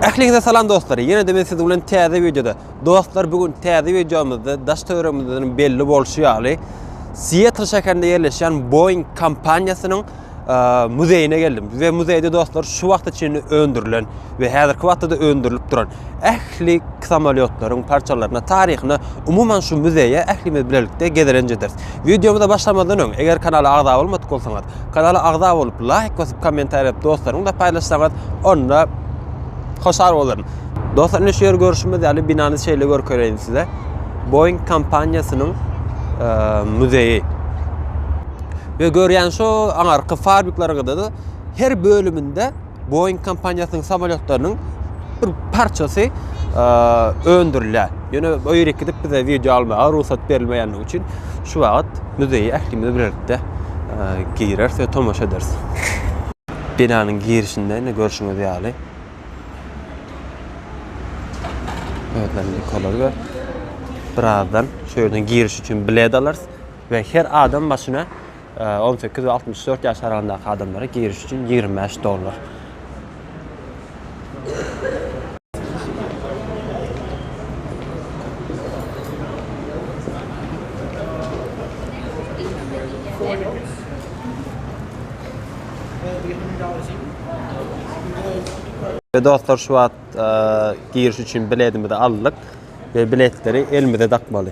Ähliňize salam dostlar. Ýene de men siz bilen täze wideoda. Dostlar, bu gün täze wideomyzda daş töweregimizden belli bolşy ýaly, Seattle şäherinde ýerleşýän Boeing kompaniýasynyň muzeýine geldim. We muzeýde dostlar şu wagta çenli öndürilen we häzirki wagtda da öndürilip duran ähli samolýotlaryň parçalaryna, taryhyna, umuman şu muzeýe ählimiz bilelikde gezelenç ederis. Wideomyza başlamazdan öň, eger kanala agza bolmadyk bolsaňyz, kanala agza bolup, laýk basyp, kommentariýa edip, dostlaryňyz bilen paýlaşsaňyz, onda hoşal bolaryn. Dostlar, indi şu ýer görüşimiz ýaly binany şeýle görkezeýin size. Boeing kompaniýasynyň muzeýi. Ve görýän şu aňarky fabrikleriňizde her bölüminde Boeing kompaniýasynyň samolýotlarynyň bir parçasy öndürilýär. Ýöne o ýere gidip bize wideo almaga rugsat berilmeýändigi üçin şu wagt muzeýe ählimiz birlikde gireris we tomaşa ederis. Binanyň girişinde indi görşüňiz ýaly özlerine kolar we birazdan şu ýerden giriş üçin bilet alarys we her adam başyna On sekiz we altmyş dört ýaş aralygyndaky adamlara giriş üçin ýigrimi bäş dollar. We dostlar şu wagt giriş üçin biletimizi aldyk we biletleri elimize dakmaly.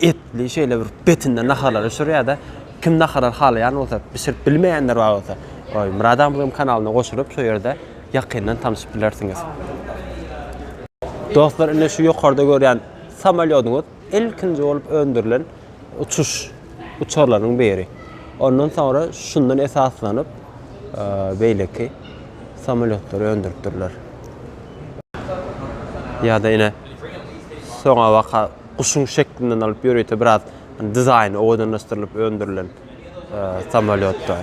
etli şeýle bir betinde naharlar bişirýärdi. Kim naharlar halaýan bolsa, bişirip bilmeýänler bar bolsa, oý Murad agmyzyň kanalyna goşulyp şo ýerde ýakyndan tanyşyp bilersiňiz. Dostlar ine şu ýokarda görýän samolýodyňyz ilkinji bolup öndürilen uçuş uçarlarynyň biri. Ondan soňra şundan esaslanyp beýleki samolýotlary öndüripdirler. Ýa-da ine soňabaka guşuň şeklinden alyp ýörite biraz dizaýny owadanlaşdyrylyp öndürilen samalýotlar.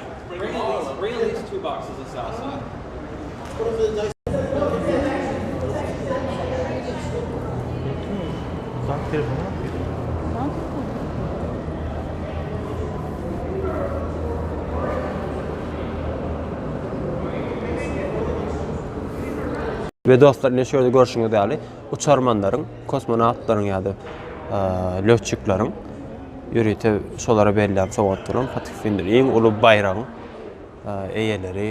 We dostlar ine şu ýerde görşüňiz ýaly Uçarmanlaryň, kosmonawtlaryň ýa-da lötçikleriň ýörite şolara berlen sowgatlaryň, patiffindir, iň uly baýragyň eýeleri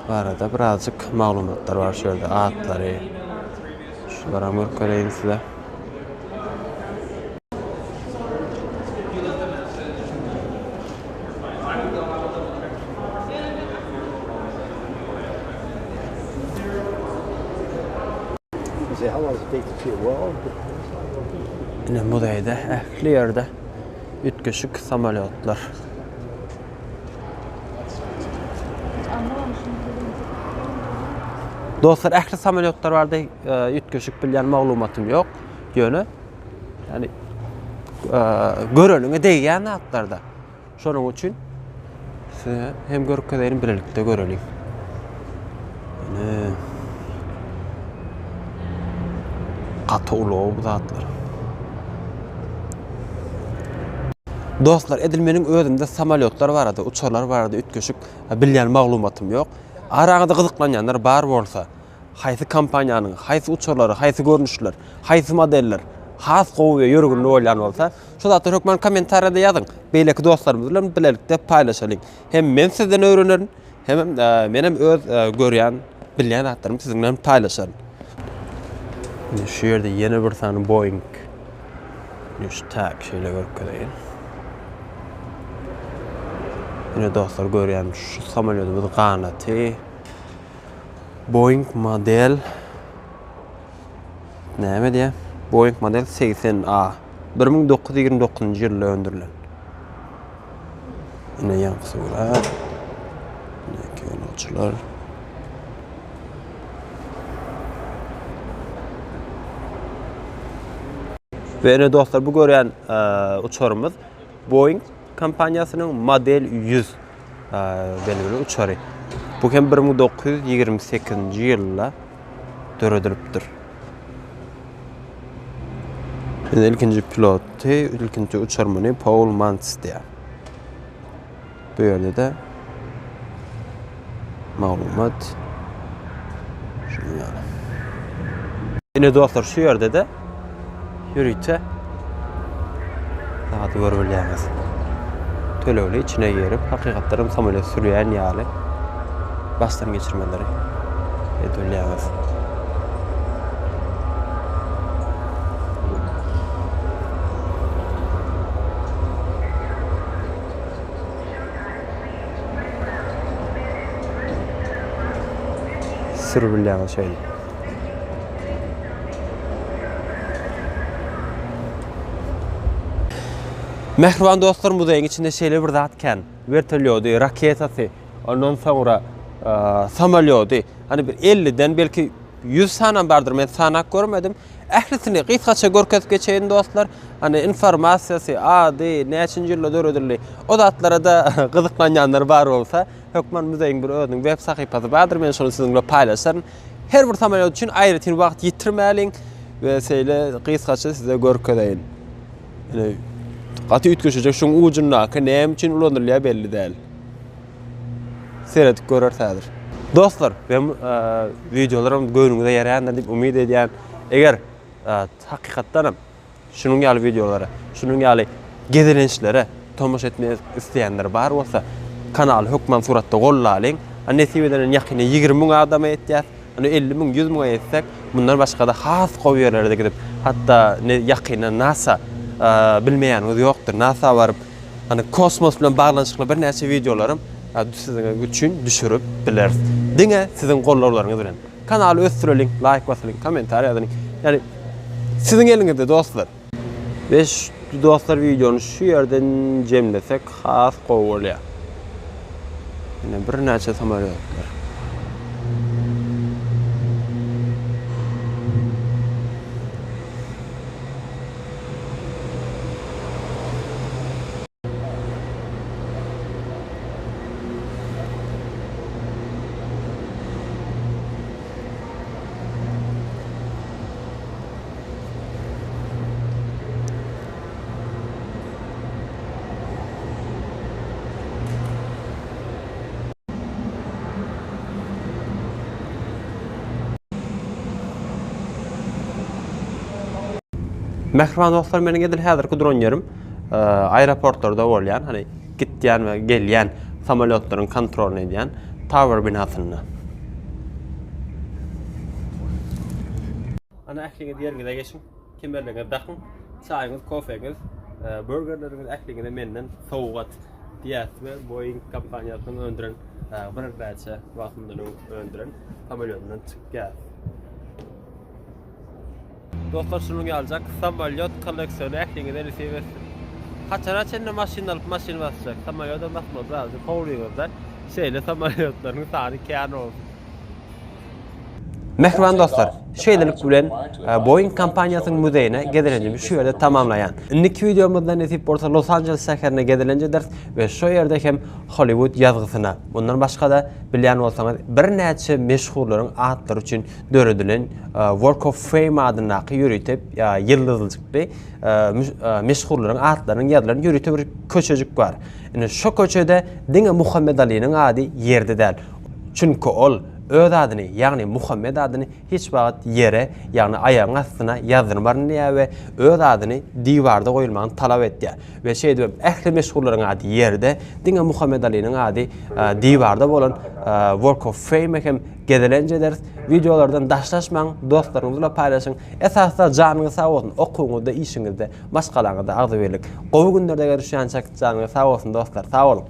barada birazjyk maglumatlar bar şu ýerde, atlary. Şulara görkezeýin size. Ine muzeýde ähli ýerde üýtgeşik samolýotlar. Dostlar ähli samolýotlar barada üýtgeşik bilýän maglumatym ýok. Ýöne Yani göreniňe degýän zatlarda. Şonuň üçin size hem görkezeýin birlikde göreliň. Yani gaty ulag bu zatlar. Dostlar, edil meniň özümde samolyotlar barada, uçarlar barada üýtgeşik bilýän maglumatym ýok. Araňyzda gyzyklanýanlar bar bolsa, Haýsy kompaniýanyň, haýsy uçarlary, haýsy görnüşler, haýsy modeller has gowy we ýörgünli bolýan bolsa, şu zatlary hökman kommentariýada ýazyň. Beýleki dostlarymyz bilen bilelikde paýlaşalyň. Hem men sizden öwrenerin, hemem menem öz görýän, bilýän zatlarymy siziň bilen paýlaşaryn. Indi şu ýerde ýene bir sany Boeing üç tak şeýle görkezeýin. Ine dostlar görýäňiz, şu samolýodymyz ganaty Boeing model näme diýä? Boeing model 80A 1929-njy ýylda öndürilen. Ine ýaňky surat. Ine kinoçylar. Ve ine dostlar bu görýän e, uçarymyz Boeing kompaniýasynyň model 100 Belgili uçary. Bu hem 1928-nji ýylda döredilipdir. Indi ilkinji piloty, ilkinji uçarmany Paul Mantz diýär. Bu ýerde de maglumat şunuň ýaly. Ine dostlar, şu ýerde de ýörite zady görüp bilýäňiz. Tölegli içine girip, hakykatdanam samolýot sürýän ýaly başdan geçirmeleri edip bilýäňiz. Sürüp bilýäňiz şeýle. Mähriban dostlar, muzeýiň içinde şeýle bir zat kän. Wertolýody, raketasy, ondan soňra samolýody. Hani bir 50-den belki 100 sanam bardyr, men sanap görmedim. Ählisini gysgaça görkezip geçeýin dostlar. Hani informasiýasy, ady, näçinji ýylda döredildi. O zatlara da gyzyklanýanlar bar bolsa, hökman muzeýiň bir özüniň web sahypasy bardyr, men şony siziň bilen paýlaşaryn. Her bir samalýot üçin aýratyn wagt ýitirmäliň we şeýle gysgaça size görkezeýin. Ine, gaty üýtgeşejek şuň ujundaky näme üçin ulanylýar belli däl. Seredip göreris häzir. Dostlar, men wideolaryň göwnüňize ýaraýandyr diýip umyt edýän. Eger hakykatdanam Şunuň ýaly wideolara, şunuň ýaly gezelençlere tomaşa etmek isleýänler bar bolsa, kanaly hökman suratda gollalyň. A nesip eden indi ýakynda ýigrimi müň adama ýetýäs. Indi elli müň, ýüz müňe ýetsek, mundan başga-da has gowy ýerlere-de gidip, hatda ýakynda nasa, bilmeýäniňiz ýokdur, nasa baryp, indi kosmos bilen baglanyşykly birnäçe wideolaram siziň üçin düşürip bileris. Diňe siziň gollarlaryňyz bilen. Kanaly ösdüreliň laýk basylyň komentariýa ýazylyň ýani siziň eliňizde dostlar. Beş dostlar wideony şu ýerden jemlesek has gowy bolýa. Ýene birnäçe samalýotlar. Mähriban dostlar meniň edil häzirki duran ýerim. aeroportlarda bolýan, hani gitýän we gelýän samolýotlaryň kontrolyny edýän Tower binasynda. Ana ähliňiz ýeriňize geçiň, kemerleriňizi dakyň, çaýyňyz, kofeňiz, e, burgerleriňiz ähliňize menden sowgat diýýäs we Boeing kompaniýasynyň öndüren e, bir näçe wagtyndan öň öndüren samolýotyndan çykýar. Dostlar şunuň ýalyjak samolýot kolleksiony ähliňize nesip etsin. Haçana çenli maşyn alyp maşyn basjak. Samolýota basmak zadyny howlyňyzda şeýle samolýotlaryň sany kän bolsun. Mähriban dostlar, şeýlelik bilen Boeing kompaniýasynyň muzeýine gezelenjimi şu ýerde tamamlaýan. Indiki wideomyzda nesip bolsa Los Anjeles şäherine gezelenje ederis we şo ýerde hem Hollywood ýazgysyna, mundan başga-da bilýän bolsaňyz birnäçe meşhurlaryň atlary üçin döredilen Walk of Fame adyndaky ýörite ýyldyzlyjykly meşhurlaryň atlarynyň ýazylan ýörite bir köçejik bar. Ine, şo köçede diňe Muhammet Aliniň ady ýerde däl. Çünki ol öz adyny, ýagny Muhammet adyny hiç wagt ýere, ýagny aýagyň astyna ýazdyrmaryn diýýär we öz adyny diwarda goýulmagyny talap etýär. We şeýdibem ähli meşhurlaryň ady ýerde, diňe Muhammet Aliniň ady diwarda bolan Walk of Fame-e hem Gezelenç ederis. Wideolardan daşlaşmaň, dostlaryňyz bilen paýlaşyň. Esasda janyňyz sag bolsun, okuwyňyzda, işiňizde, maşgalaňyzda agzybirlik. Gowy günlerde görüşýänçäk janyňyz sag bolsun dostlar, sag boluň!